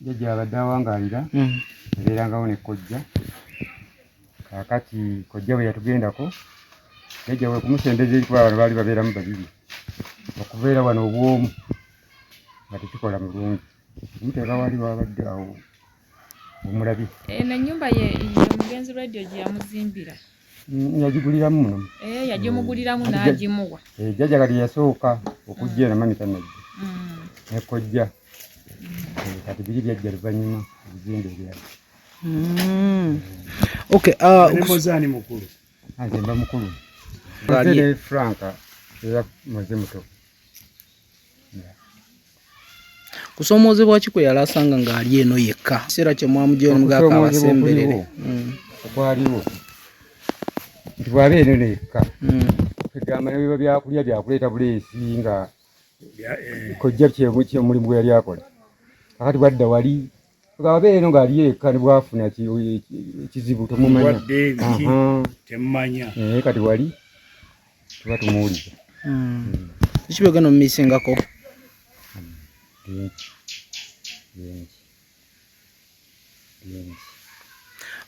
Jjajja abadde awangaalira yabeerangawo ne kojja kaakati kojja bwe yatugendako jjajja we kumusembeza eri kuba bano baali babeeramu babiri okubeera wano obwomu nga tekikola mulungi omuteeka waali wabadde awo omulabi eno ennyumba ye omugenzi radio gye yamuzimbira yagiguliramu muno eh, yagimuguliramu mm. n'agimuwa eh, jjajja kati yasooka okujja era mami tanajja mm. nekojja eh, kati biri byajja luvannyuma ebizimbe ebyala mm. okay uh, mukulu nze mba mukulu franka era muze muto kusoomoozebwa ki kwe yali asanga ng'ali eno yekka kiseera kye mwamugya omugaka abasemberere hmm. okwaliwo nti bwaba eno eno yekka hmm. egamba nebiba byakulya byakuleeta buleesi nga eh. kojja kyemulimu gwe yali akola kakati bwadda wali Abeera eno ng'ali yekka ne bwafuna ekizibu temumanya. Temumanya. Naye kati wali tuba tumuwuliza. Hmm. Kiki byogenda omumisingako? Bingi. Bingi. Bingi.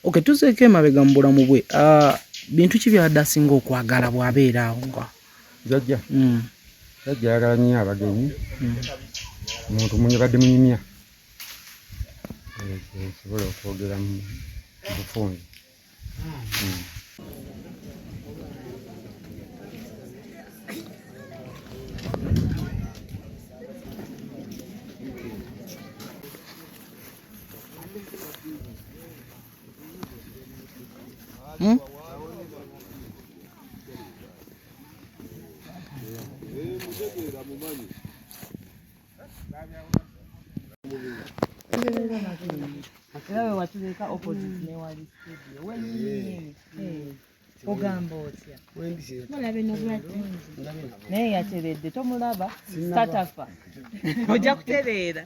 Okay, tuzeeko emabega mu bulamu bwe. Ah, bintu ki by'abadde asinga okwagala bw'abeera awo nga? Jajja. Hmm. Jajja ayagala nnyo abagenyi. Hmm. Muntu munyabadde munyumya. esobola okwogera mu bufunzi Hmm? ogamba otya mulabe nobulwadde naye yateredde tomulaba katafa ojja kutereera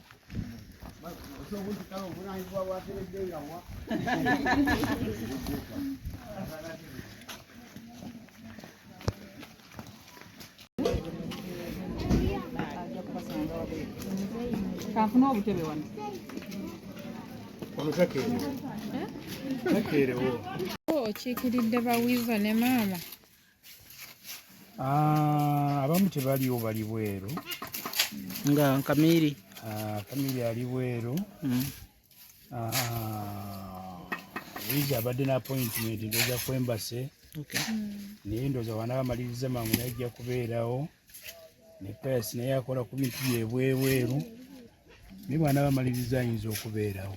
kanfuna obutebe wano okiikiridde bawiza ne maama ah, abamu tebaliwo bali bweru nga kamiri ah, kamiri ali bweru hmm. Wizi abadde na appointment ndoza ku embassy naye ndoza wana bamaliriza mangu naye ajja kubeerawo ne payas naye akola ku bintu byebwebweru naye bwana bamaliriza ayinza okubeerawo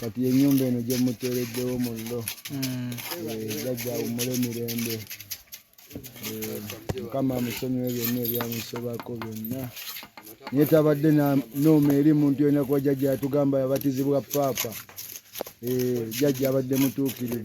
kati enyumba eno gyemuteereddewo mullo hmm. eh, jajja awummule mirembe eh, mukama amusonyiwe byonna ebyamusobako byonna naye tabadde nooma eri muntu yona kuba jajja yatugamba yabatizibwa paapa eh, jajja abadde mutuukirivu